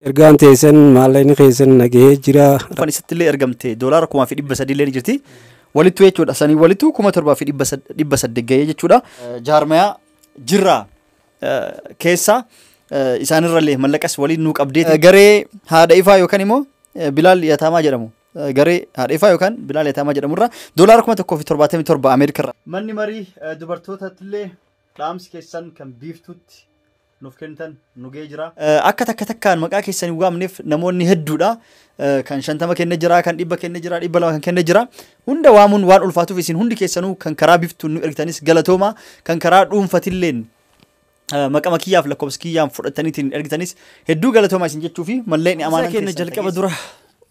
Ergaan teessan maallaqni keessan nagahee jira. Kan isatti illee ergamte doolaara kumaa fi dhibba sadii illee ni jirti. Walittu jechuudha. Sanii walittu kuma torbaa fi dhibba sad- dhibba saddeet gahee jechuudha. Jaarmayaa jirraa eh, keessaa eh, isaanirra illee mallaqas waliin nuu qabdee garee haadha ifaa yookaan immoo eh, bilaal yataamaa jedhamu. Eh, Garee haadha ifaa yookaan bilaal yataamaa jedhamurra doolaara kuma tokkoo fi torbaatamii torba Ameerikarra. Manni marii dubartootattillee dhaamsi keessan kan biiftuutti nuuf kennitan nu ga'ee jira. Akka takka takkaan maqaa keessan hin waamneef namoonni hedduudha. Kan shantama kenne jira, kan dhibba kenne jira, dhibba lama kan kenne jira. Hunda waamuun waan ulfaatuuf isin hundi keessanuu kan karaa biftuun nu ergitanis galatooma. Kan karaa dhuunfatilleen maqama kiyyaaf lakkoofsa kiyyaan fudhataniitiin ergitanis hedduu galatooma isin jechuu fi malleen amaanaa keenya jalqaba dura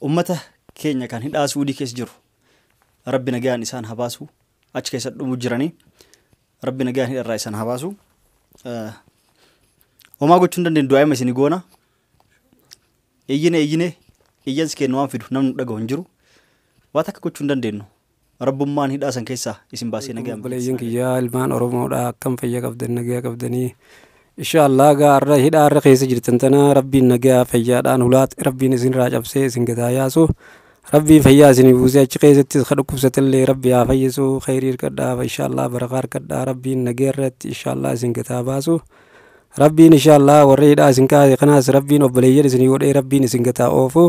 ummata keenya kan hidhaa suudii keessa jiru rabbi nagaan isaan habaasu achi keessa dhumu jiranii. Rabbi nagaan hidharraa isan haa baasu. Eh, Homaa gochuu hin dandeenyu du'aa'ima isin goona. Iyyine iyyine iyyansi keenya waan fidu namni nu dhagahu hin jiru. Waan takka gochuu hin dandeenyu. Rabbummaan hidhaa san keessaa isin baasee nagaan. Obboleeyyan kiyyaa ilmaan Oromoodha akkam fayya qabdan nagaa qabdanii Insha Allah gaa arra hidhaa arra keessa jirtan tana rabbiin nagaa fayyaadhaan hulaat rabbiin isin irraa cabsee isin gadaa yaasu rabbiin fayyaa isin buusee achi keessattis ka dhukkubsatellee rabbi haa fayyisu khayrii hirkadhaa insha Allah barakaa hirkadhaa rabbiin nagaa irratti insha Allah isin gadaa baasu rabbiin insha Allah warra hidhaa isin kaase kanaas rabbiin obboleeyyan isin godhee rabbiin isin gadaa oofu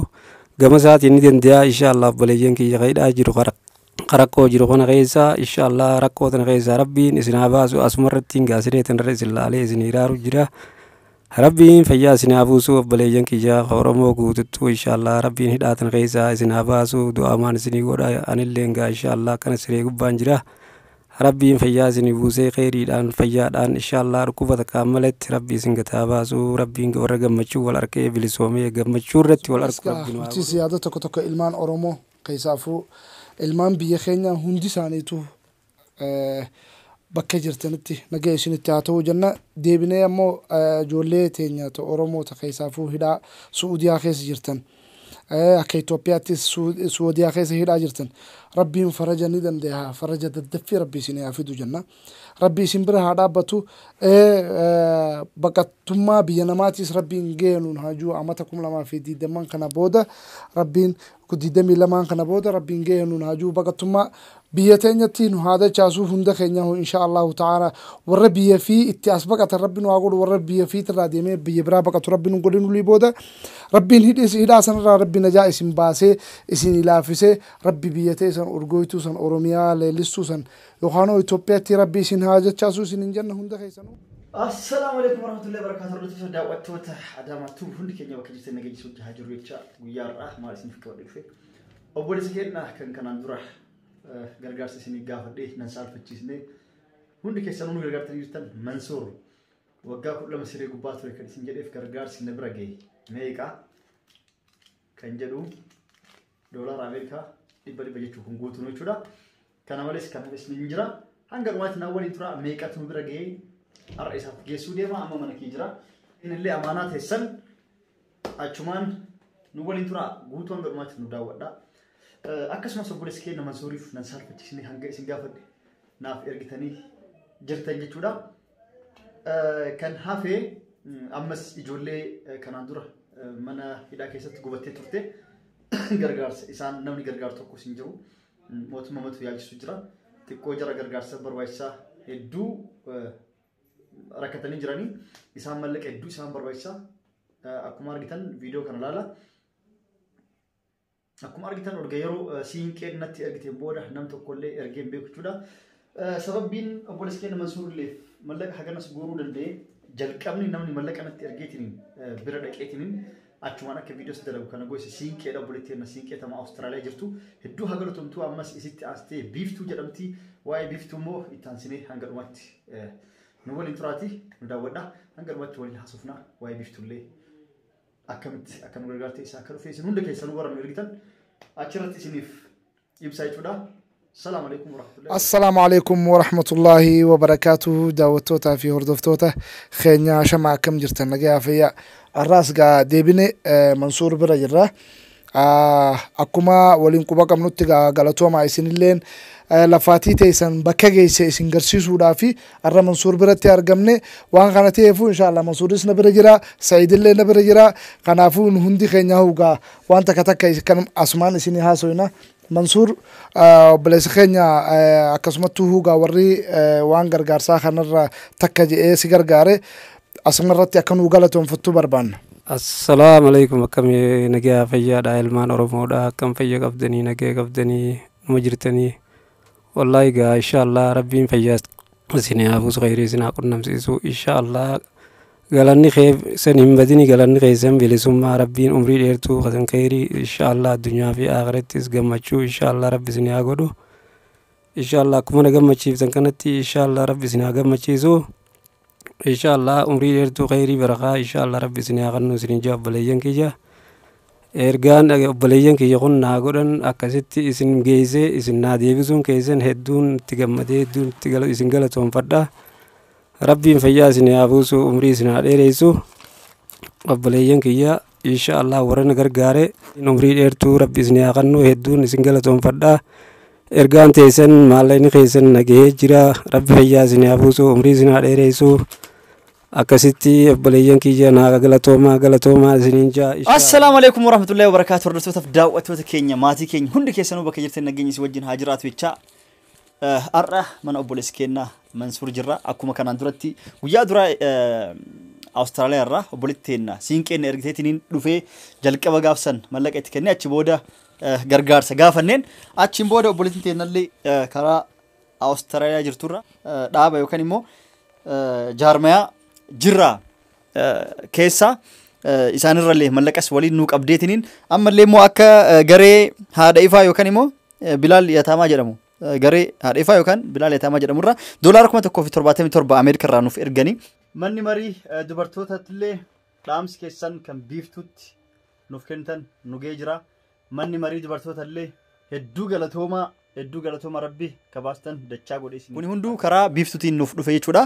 gama isaatiin ni danda'a insha Allah obboleeyyan kiyya ka hidhaa jiru ka ka rakkoo jiru kana keessa inshaallah rakkoo tana keessaa rabbiin isin haa baasu asuma irratti hin gaasiree tanarra isin laalee isin hiraaru jira rabbiin fayyaa isin haa buusu obboleeyyan kiyyaa ka oromoo guututtuu inshaallah rabbiin hidhaa tana keessaa isin haa baasu du'aamaan isinii godha anillee gaa inshaallah akkana siree gubbaan jira rabbiin fayyaa isinii buusee keeriidhaan fayyaadhaan inshaallah dhukkuba takkaan maletti rabbi isin gataa baasu rabbiin warra gammachuu wal arkee bilisoomee gammachuu irratti wal arku Egaa rabbiin waa bulchiinsi yaada tokko tokko ilmaan Oromoo Keessaafuu ilmaan biyya keenyaa hundi isaaniitu bakka jirtanitti nagaya isinitti haa ta'uu jenna. Deebinee ammoo ijoollee teenya ta Oromoo ta keessaafuu hidhaa Su'udiyaa keessa jirtan akka Itoophiyaattis Suwadiyaa keessa hidhaa jirtan Rabbiin faraja ni dandayaa faraja daddaffii Rabbi isinii haa fidu jenna. Rabbi isin bira haa dhaabbatu. Baqattummaa biyya namaatiis Rabbiin gaya nuun haa jiru amata 2020 kana booda Rabbiin Ku 22n kana booda rabbiin geehe nun haa ji'u baqattummaa biyya teenyatti nu haa dachaasu hunda keenyahu inshaa Allaahu ta'aala warra biyya fii itti as baqatan rabbi nu haa godhu warra biyya fiitirraa deemee biyya biraa baqatu rabbi nun godhin wly booda rabbiin hidhis hidhaa sanirraa rabbi najaa isin baasee isinii laaffisee rabbi biyya teessan urgooytuu san oromiyaa leellistuu san Yokaanoo Itoophiyatti rabbi isin haa jachaasu isin hin janna hunda keessanu. Assalaamu alaikum warahmatullahi wabarakatuh hordoftoota daawwattoota Adaamaa Tuub hundi keenya bakka jirtan nageenya isin wajjin haa jiru jecha guyyaa har'aa maal isiniif qabadhe dhufe obboleessa keenya kan kanaan dura eh, gargaarsa isinii gaafadhe nan saalfachiisne hundi keessanuu nu gargaartanii jirtan Mansuur waggaa kudha lama siree gubbaa ture kan isin jedheef gargaarsi na bira ga'e meeqa kan jedhu doolaara Ameerikaa dhibba dhibba jechuun kun guutuun jechuudha. Kana malees kan hafes ni jira. Hanga dhumaatti na waliin tura meeqatu bira ga'ee har'a isaaf geessuu deema amma mana kee jira. Inillee amaanaa teessan achumaan nu waliin tura guutuu hanga dhumaatti nu daawwadha. Akkasumas obboleessi kee nama suuriif nan saalfachiisne hanga isin gaafadhe naaf ergitanii jirtan jechuudha. Kan hafe ammas ijoollee kanaan dura mana hidhaa keessatti gubattee turte gargaarsa isaan namni gargaaru tokkos hin jiru. Mootummaa matu yaalchisu jira. Xiqqoo jara gargaarsa barbaachisaa hedduu rakkatanii jiranii isaan mallaqa hedduu isaan barbaachisaa akkuma argitan viidiyoo kana ilaala. Akkuma argitan erga yeroo siinqeen natti ergiteen booda nam tokkollee ergeen beeku jechuudha. Sababbiin obboleessi keenya Mansuurilleef mallaqa haganas guuruu danda'e jalqabni namni mallaqa natti ergeetiin bira dhaqeetiin achumaan akka viidiyoos dalagu kana goose siinqeedha obboleetti keenya siinqee tama Awustiraaliyaa jirtu hedduu haa galatomtuu ammas isitti aansitee biiftuu jedhamti waa'ee biiftuu immoo itti aansinee hanga dhumatti nu waliin turaati nu daawwadha hanga dhumatti waliin haasofna waa'ee biiftullee akkamitti akka nu gargaarte eessaa akka dhufee isin hunda keessanuu warra nu ergitan achirratti isiniif ibsa jechuudha. Salaamu alaikum warahmatullahi Assalaamu alaikum warahmatullaahi wabarakaatuhu daawwattootaa fi hordoftoota keenya shama akkam jirtan nagayaa fayyaa har'aas gaa deebine eh, Mansuur bira jirra akkuma waliin quba qabnutti gaa galatooma isinilleen eh, lafaatii teessan bakka geesse isin garsiisuudhaa fi har'a Mansuur biratti argamne waan kana ta'eefu inshaallah Mansuuris na bira jira Sa'iidillee na bira jira kanaafuu nu hundi keenya hugaa waan takka takka is- kan asumaan isinii haasoyna Mansuur eh, obboleessa keenya eh, akkasumattuu hugaa warri eh, waan gargaarsaa kanarra takka je'ee si gargaare Asuma irratti akka nuu galatoomfattu barbaanna. Assalaamu alaikum akkami nagaa fayyaadha ilmaan oromoodha akkam fayya qabdanii nagaa qabdanii numa jirtanii wallaahi gaa inshaallah rabbiin fayyaa isin haa buusu khayrii isin haa qunnamsiisu inshaallah galanni kee san hin badini galanni keessan bilisummaa rabbiin umrii dheertuu kasan khayrii inshaallah addunyaa fi aakirattis gammachuu inshaallah rabbi isin haa godhu inshaallah akkuma na gammachiiftan kanatti inshaallah rabbi isin haa gammachiisu Insha Allah umrii dheertuu khayrii barakaa insha Allah rabbi isin haa kennu isin ijaa obboleeyyan kiyya ergaan dhage obboleeyyan kiyya kun naa godhan akkasitti isin geeyse isin naa deebisuun keeysan hedduun itti gammadee hedduun itti gala isin galatoonfadha rabbiin fayyaa isin haa buusu umrii isin haa dheereysu obboleeyyan kiyya Insha Allah warra na gargaare umrii dheertuu rabbi isin haa kennu hedduun isin galatoomfadha. Ergaan teessan maallaqni keessan na gahee jira rabbi fayyaa isin haa buusu umrii isin haa dheereessu. Akkasitti obboleeyyan kiyya naa galatoomaa galatoomaa isiniin jaa. Assalaamu alaikum warahmatullahi wabarakaatu hordoftootaf daawwattoota keenya maatii keenya hundi keessanuu bakka jirtan nageenyi si wajjin haa jiraatu jechaa Har'a mana obboleessi keenya Mansuur jirra. Akkuma kanaan duratti guyyaa duraa Awustiraaliyaa irraa obboleetti teenna siinqeen ergiteetiniin dhufee jalqaba gaafsan mallaqa itti kennee achi booda gargaarsa gaafanneen achiin booda obboleetti teennallee karaa Awustiraaliyaa jirturra dhaaba yookaan immoo jaarmayaa jirraa keessaa isaanirrallee mallaqas waliin nuu qabdeetiniin ammallee immoo akka garee haadha ifaa yookaan immoo Bilaal Yataamaa jedhamu garee haadheefaa yookaan Bilaal Yataamaa jedhamu irraa doolaara kuma tokkoo fi torbaatamii torba Ameerika irraa nuuf erganii. Manni marii dubartootaatti illee dhaamsi keessan kan biiftuutti nuuf kennitan nu ga'ee jira. Manni marii dubartoota illee hedduu galatoomaa hedduu galatooma rabbi kabaastan dachaa godhe isin. Kuni hunduu karaa biiftuutiin nuuf dhufe jechuudha.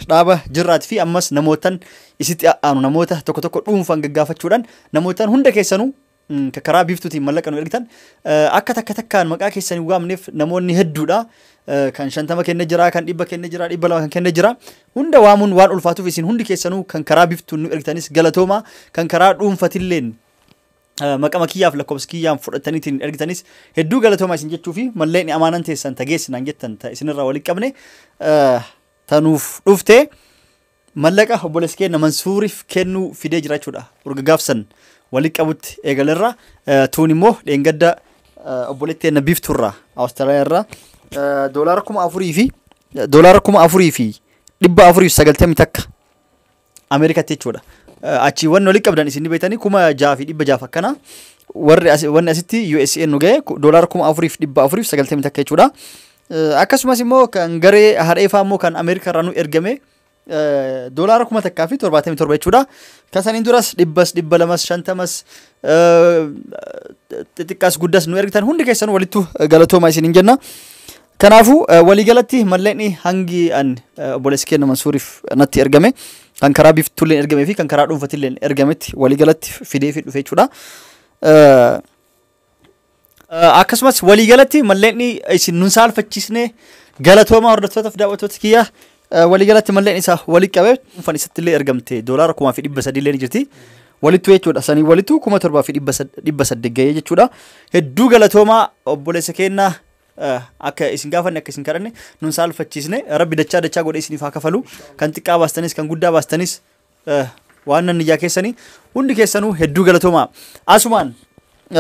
Dhaaba jirraati fi ammas namootan isitti aanu namoota tokko tokko dhuunfaan gaggaafachuudhaan namootan hunda keessanuu Mm, ka- karaa biiftuutiin mallaqa nu ergitan Eh, akka takka takkaan maqaa keessan hin waamneef namoonni hedduudha Eh, kan shantama kenne jira kan dhibba kenne jira dhibba lama kan kenne jira hunda waamuun waan ulfaatuuf isin hundi keessanuu kan karaa biiftuun nu ergitanis galatooma kan karaa dhuunfatilleen eh, maqama kiyyaaf lakkoofsa kiyyaan fudhataniitiin ergitanis hedduu galatooma isin jechuu fi malleen amaanan teessan tageessinaan jettan ta isinirraa waliin qabne eh, tanuuf dhufte. Mallaqa obboleessi keenya Mansuuriif kennuu fidee jira jechuudha. Urga gaafsan walitti qabutti eegalerra tuun immoo dheengadda obboleetti keenya biifturraa Awustiraaliyaa irraa doolaara kuma afurii fi doolaara kuma afurii fi dhibba afurii fi sagaltamii takka Ameerikatti jechuudha. Achii wanni walitti qabdan isin ni beektanii kuma jaha fi dhibba jaha akkana warri wanni asitti USA nu ga'e doolaara kuma afurii fi dhibba afurii fi sagaltamii takka jechuudha. Akkasumas immoo kan garee hareefaa immoo kan Ameerikaa irraa nu ergame doolaara kuma takkaa fi torbaatamii torba jechuudha. Kan saniin duras dhibbas dhibba lamas shantamas xixiqqaas guddas nu ergitan hundi keessan walittu galatooma isin hin jenna. Kanaafuu waliigalatti mallaqni hangi an obboleessi keenya Mansuuriif natti ergame kan karaa biiftuulleen ergamee fi kan karaa dhuunfatilleen ergametti waliigalatti fidee fi dhufe jechuudha. Akkasumas waliigalatti malleenni isin nun saalfachiisne galatooma hordoftootaaf daawwattoota kiyya waliigalatti malleen isa walitti qabe dhuunfaan isatti illee ergamte doolaara kumaa fi dhibba sadii illee ni jirti. Walittu jechuudha sanii walittu kuma torbaa fi dhibba saddeet ga'ee jechuudha. Hedduu galatoomaa obboleessa keenya akka isin gaafanne akka isin kadhanne nun saalfachiisne rabbi dachaa dachaa godhee isiniif haa kafalu kan xiqqaa baastanis kan guddaa baastanis Eh, waan nan ijaa keessanii hundi keessanuu hedduu galatoomaa asumaan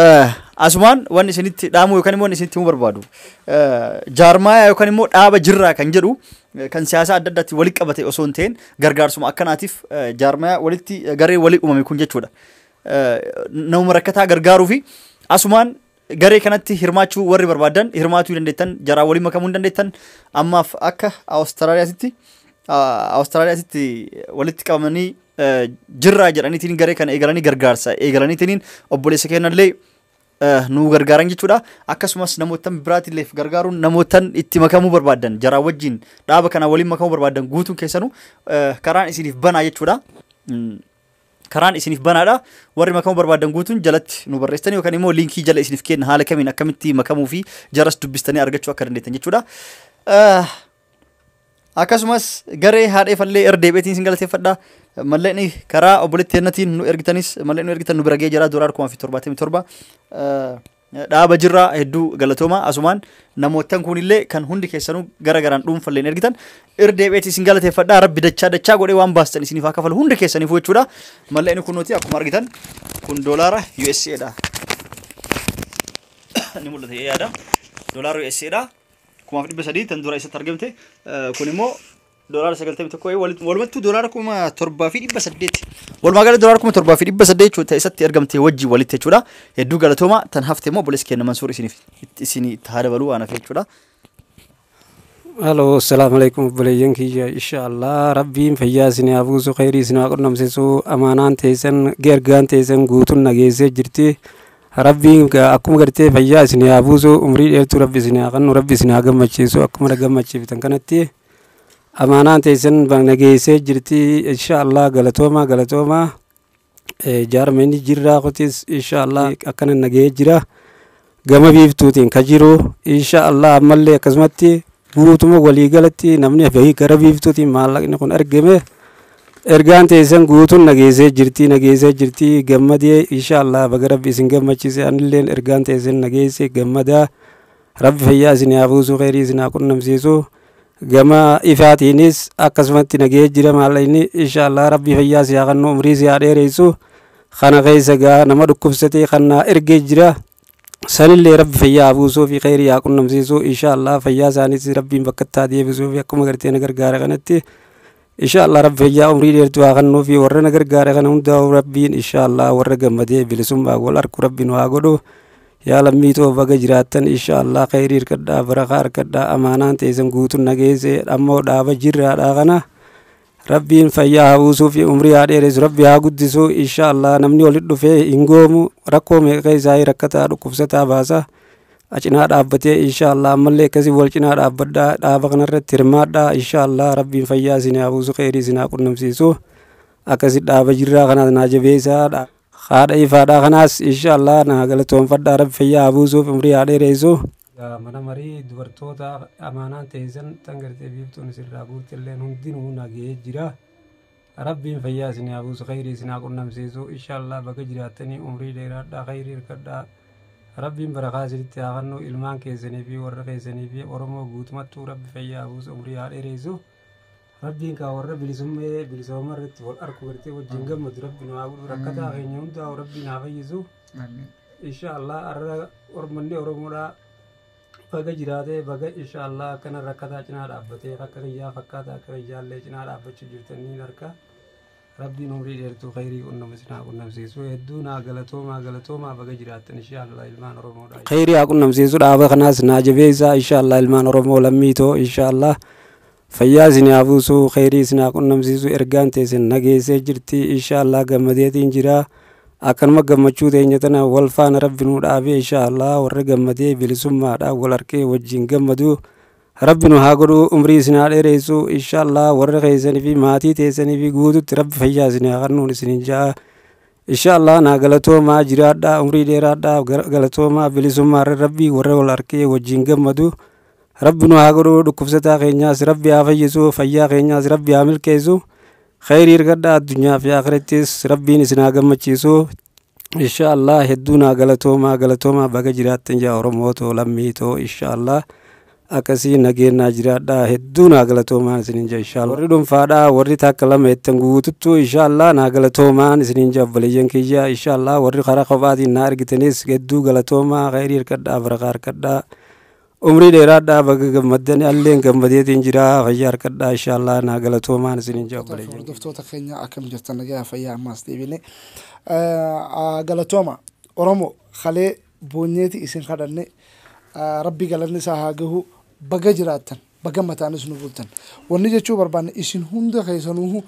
eh, asumaan waan isinitti dhaamuu yookaan immoo waan isinitti himuu barbaadu eh, jaarmaayaa yookaan immoo dhaaba jirraa kan jedhu eh, kan siyaasaa adda addaatti walitti qabate osoo hin ta'in gargaarsuma akkanaatiif eh, jaarmaayaa walitti eh, garee walii uumame kun jechuudha Eh, nama rakkataa gargaaruu fi asumaan Garee kanatti hirmaachuu warri barbaadan hirmaatuu dandeettan jaraa waliin makamuu hin dandeettan ammaaf akka Awustiraaliyaatitti Awustiraaliyaatitti walitti qabamanii jirraa jedhaniitiin garee kana eegalanii gargaarsa eegalaniitiin obboleessa keenyallee nu gargaaran jechuudha. Akkasumas namootan biraatiilleef gargaaruun namootan itti makamuu barbaadan jaraa wajjin dhaaba kana waliin makamuu barbaadan guutuun keessanuu karaan isiniif banaa jechuudha. karaan isiniif banaadha. Warri makamuu barbaadan guutuun jalatti nu barreessitanii yookaan immoo liinkii jala isiniif kenna haala kamiin akkamitti makamuu fi jaras dubbistanii argachuu akka dandeettan jechuudha. Ah, Akkasumas garee haadhee fallee irra deebi'eetiin isin galateeffadha. Mallaqni karaa obboleetti kennatiin nu ergitanis mallaqni nu ergitan nu bira ga'ee jira doolaara kuma fi torbaatamii torba. Ah, dhaaba jirra hedduu galatooma asumaan namoottan kuunillee kan hundi keessanuu gara garaan dhuunfalleen ergitan irra deebi'eeti isin galateeffadha rabbi dachaa dachaa godhee waan baastan isiniif haa kafalu hundi keessaniifuu jechuudha mallee inni kunuuti akkuma argitan kun doolaara USA dha ni mul'ata yaada doolaara USA dha kumaaf dhibba sadii tan dura isatti argamte kun immoo Doolaara 91 eh, wal- walumattuu doolaara kuma torbaa fi dhibba saddeeti. Walumaa gala doolaara kuma torbaa fi dhibba saddeet jechuudha isatti argamte wajjin walitti jechuudha. Hedduu galatooma tan hafte immoo obboleessi keenya Mansuur isiniif itti- isinii itti haa dabaluu waan hafee jechuudha. Halo, assalamualaikum obboleeyyan kiyya. Inshaallah rabbiin fayyaa isin haa buusu, khayrii isin haa qunnamsiisu. Amaanaan teessan, ergaan teessan guutuun nageessee jirti. Rabbiin ga- akkuma gartee fayyaa isin haa buusu, umrii dheertuu rabbi isin haa kennu, rabbi isin haa gammachiisu. Akkuma na gammachiiftan kanatti amaanaan teessan na geessee jirti insha allah galatoomaa galatoomaa jaarmeenni jirraa kutis insha allah akkana na ga'ee jira gama biiftuutiin ka jiru insha allah ammallee akkasumatti guutuma waliigalatti namni bahii gara biiftuutiin maallaqni kun argame ergaan teessan guutuun na geessee jirti na geessee jirti gammadee insha allah baga rabbi isin gammachiise anilleen ergaan teessan na geesse gammadaa Rabbi fayyaa isin haa buusuu kheyrii isin haa qunnamsiisu gama ifaatiinis akkasumatti nagahee jira maallayni inshaallah rabbi fayyaa si haa kannu umrii si haa dheereysu kana keessa gaa nama dhukkubsatee kan naa ergee jira sanillee rabbi fayyaa haa buusuu fi kheyrii haa qunnamsiisu inshaallah fayyaa isaaniis rabbiin bakkatti haa deebisuu fi akkuma gartee na gargaara kanatti Insha Allah Rabbi fayyaa umrii dheertuu haa kennuu fi warra na gargaare kana hundaa'u Rabbiin insha Allah warra gammadee bilisummaa wal arku Rabbi nu haa godhu. Yaa lammii too baga jiraattan insha Allah kheyrii hirkadhaa barakaa harkadhaa amaanaan teessan guutuun na geesse ammoo dhaaba jirraadhaa kana. Rabbiin fayyaa haa buusuu fi umrii haa dheeressu Rabbi haa guddisu insha Allah namni walitti dhufee hin goomu rakkoo meeqa keessaa rakkataa dhukkubsataa baasa. a cinaa dhaabbatee inshaallah ammallee akkasii wal cinaa dhaabbadhaa dhaaba kanarratti hirmaadhaa inshaallah rabbiin fayyaa isin haa buusu kheyrii isin haa qunnamsiisu akkasi dhaaba jirraa kanaas naa jabeessaadha haadha ifaadhaa kanaas inshaallah naa galatoonfadhaa rabbi fayyaa haa buusuuf umrii haa dheereessu mana marii dubartoota amaanaan teessan tan gartee biiftuun isirraa guuttilleen hundinuu nagee jira Rabbiin fayyaa isinii haa buusu keyrii isin haa qunnamsiisu inshallah baga jiraattanii umrii dheeraadhaa keyrii hirkadhaa Rabbiin barakaa isinitti haa kannuu ilmaan keessanii fi warra keessanii fi Oromoo guutumattuu Rabbi fayyaa haa buusu umrii haa dheereysu Rabbiin kaa warra bilisummee bilisooma irratti wal arku gartee wajjin gammadu Rabbi nu haa godhu rakkataa keenya hundaa Rabbiin haa fayyisu inshallah arra ormanni Oromoodhaa Baga jiraatee baga inshaallah akkana rakkataa cinaa dhaabbatee akka kiyyaa fakkaata akka kiyyaallee cinaa dhaabbachuu jirtan niin harka rabbiin umrii dheertuu khayrii qunnama isin haa qunnamsiisu hedduu naa galatoomaa galatoomaa baga jiraattan inshaallah ilmaan oromoodha khayrii haa qunnamsiisu dhaaba kanaas naa jabeessaa inshaallah ilmaan oromoo lammii too inshaallah Fayyaa isin haa buusu keyrii isin haa qunnamsiisu ergaan teessan na geessee jirti inshaallah gammadeetiin jira akkanuma gammachuu teenya tana wal faana rabbi nu dhaabee inshaallah warri gammadee bilisummaadhaan wal arkee wajjin gammadu rabbi nu haa godhu umrii isin haa dheereessu inshaallah warri keessanii fi maatii teessanii fi guututti rabbi fayyaa isin haa kennuun isinin ja'a inshaallah naa galatoomaa jiraadhaa umrii dheeraadhaa galatoomaa bilisummaa rabbii warra wal arkee wajjin gammadu rabbi nu haa godhuu dhukkubsataa keenyaas rabbi haa fayyisuu fayyaa keenyaas rabbi haa milkeessu khayrii argadhaa addunyaa fi akhirattis rabbiin isin haa gammachiisu insha allah hedduu naa galatoomaa galatoomaa baga jiraattan yaa oromoo too lammii too insha allah akkasii nageenyaa jiraadhaa hedduu naa galatoomaan isinin jaa insha allah warri dhuunfaadhaa warri takka lama jettan guututtuu insha allah naa galatoomaan isinin jaa obboleeyyan kiyya insha allah warri karaa kophaatiin naa argitanis hedduu galatoomaa khayrii harkadhaa barakaa harkadhaa Umrii dheeraadhaa baga gammaddan alleen gammadeetiin jira fayyaa harkadhaa inshaallah naa galatoomaan isinin jaa Hordoftoota obboleeyyan. hordoftoota keenya akkam jirtan nagaa fayyaa ammaas deebine galatooma oromo kalee boonyeeti isin kadhanne Ah, rabbi galanni isaa haa gahu baga jiraattan baga mataanis nu bultan wanni jechuu barbaanne isin hunda keessanuuhu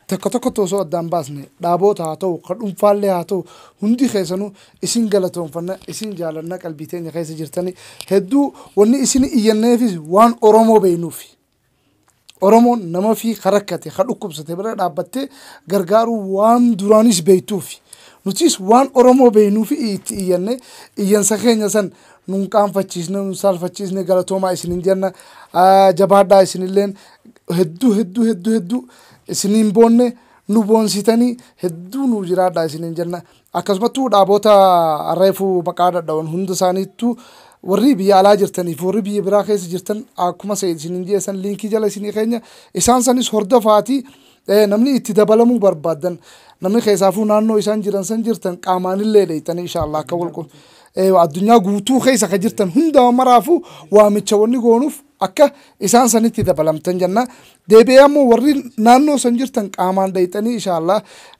Tokko tokkotti osoo addaan baasne, dhaaboota haa ta'u, ka dhunfaallee haa ta'u, hundi keessanuu isin galatoonfanna, isin jaalanna, qalbii teenya keessa jirtani. Hedduu wanni isini iyyanneefis waan Oromoo beeynuufi. Oromoon nama fii ka rakkate, ka dhukkubsate bira dhaabbattee gargaaruu waan duraanis beeytuufi. Nutiis waan Oromoo beeynuufi itti iyyanne, iyyansa keenya san nu hin qaanfachiisne, nu hin saalfachiisne, galatoomaa isinin jenna. Jabaadhaa isinilleen hedduu hedduu hedduu hedduu Isin hin boonne, nu boonsitanii, hedduu nuu jiraadhaa isiniin jenna. Akkasumattuu dhaaboota reefu maqaa dhadha'oon hunda isaaniittuu warri biyya alaa jirtanii fi warri biyya biraa keessa jirtan akkuma Sa'id isiniin jedhe san liinkii jala isinii keenya isaan sanis hordofaatii eh, namni itti dabalamuu barbaaddan namni keessaafuu naannoo isaan jiran san jirtan qaamaanillee dheeyxanii inshaallah akka walqu eh, addunyaa guutuu keessa ka jirtan hundaa maraafuu waamicha wanni goonuuf Akka isaan sanitti dabalamtan jenna. Deebi'ee ammoo warri naannoo san jirtan qaamaan dhayxanii ishaallah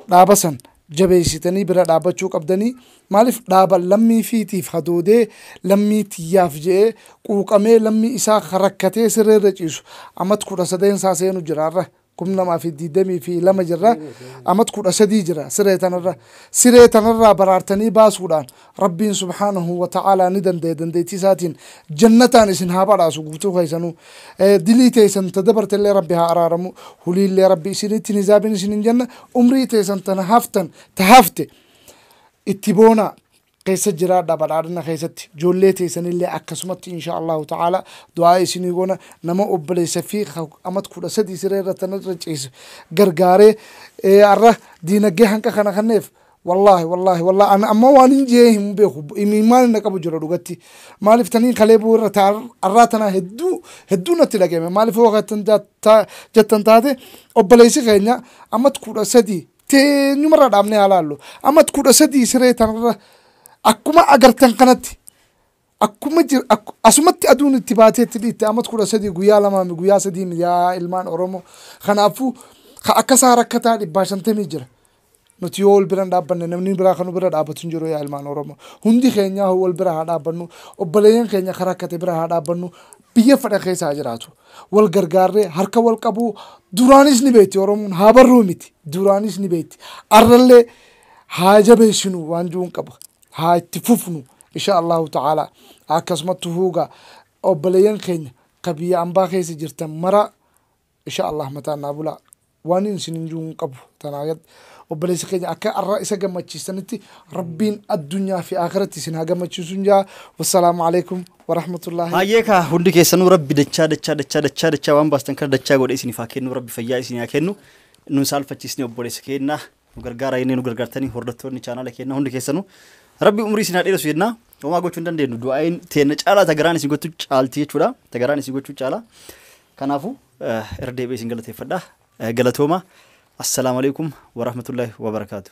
dhaaba san jabeessitanii bira dhaabbachuu qabdanii maaliif dhaaba lammii fiitiif hadoodee lammii tiyyaaf je'ee quuqamee lammii isaa rakkatee siree irra ciisu amat kudha sadeen isaa seenu jiraarra kum lamaa fi digdamii fi lama jirra amat kudha sadii jira siree tanarra siree tanarraa baraartanii baasuudhaan rabbiin subhaanahu wa ta'aalaa ni danda'e dandeettii isaatiin jannataan isin haa badhaasu guutuu keessanuu Eh, dilii teessan ta dabarte illee rabbi haa araaramu hulii illee rabbi isinitti hin hisaabin isin hin janna umrii teessan tana haftan ta hafte itti boonaa keessa jiraadha badhaadhina keessatti ijoollee teessanillee akkasumatti insha Allahu ta'ala du'aa isinii goona nama obboleessa fi amat kudha sadii siree irra tan irra ciise gargaaree eh, arra diinagdee hanqa kana kanneef wallaahi wallaahi wallaahi ana amma waan hin jee hin beeku imimmaan na qabu jira dhugatti maaliif taniin kalee buu irra taa arraa tanaa hedduu hedduu natti dhageme maaliif yoo kan jettan taate obboleessi keenya amat kudha sadii teenyumarraa dhaabnee haa laallu. Amma kudha sadii siree tanarra akkuma agartan kanatti akkuma jir, ak, asumatti aduun itti baatee itti dhiitte amma kudha sadii guyyaa lamaa mi guyyaa sadii mi yaa ilmaan Oromoo. Kanaafuu ka akka isaa rakkataa dhibbaa shantamii jira. Nuti yoo wal bira hin dhaabbanne namni biraa kan nu bira dhaabbatu hin jiru yaa ilmaan Oromoo. Hundi keenyaa wal bira haa dhaabbannu. Obboleeyyan keenya kan rakkate bira haa dhaabbannu. Biyya fedha keessa haa jiraatu. Wal gargaarree, harka wal qabuu, duraanis ni beekti Oromoon, haa barruu miti. Duraanis ni beekti. Arrallee haa jabeessinu waan jiruun qaba. Haa itti fufnu inshaa Allaahu ta'aalaa. Akkasumattu huugaa obboleeyyan keenya ka biyya ambaa keessa jirtan maraa Isha Allah mataan naa bulaa. Waanin isinin juu hin qabu tanaa gad obboleessa keenya akka arra isa gammachiistanitti rabbiin addunyaa fi aakiratti isin haa gammachiisuun jaa wassalaamu alaikum warahmatullaahi Hayyee kaa hundi keessanuu rabbi dachaa dachaa dachaa dachaa dachaa waan baastan kana dachaa godhe isiniif haa kennu rabbi fayyaa isinii haa kennu nun saalfachiisni obboleessa keenya nu gargaara jennee nu gargaartanii hordoftoonni chaanaala keenna hundi keessanuu rabbi umrii isin haa dheeressu jenna homaa gochuu hin dandeenyu du'aa'iin teenna caalaa tagaraan isin gochuu caalti jechuudha tagaraan isin gochuu caalaa kanaafuu eh, irra deebi'ee isin galateeffadha Eh, galatooma assalaamu alaikum warahmatullaahi wabarakaatu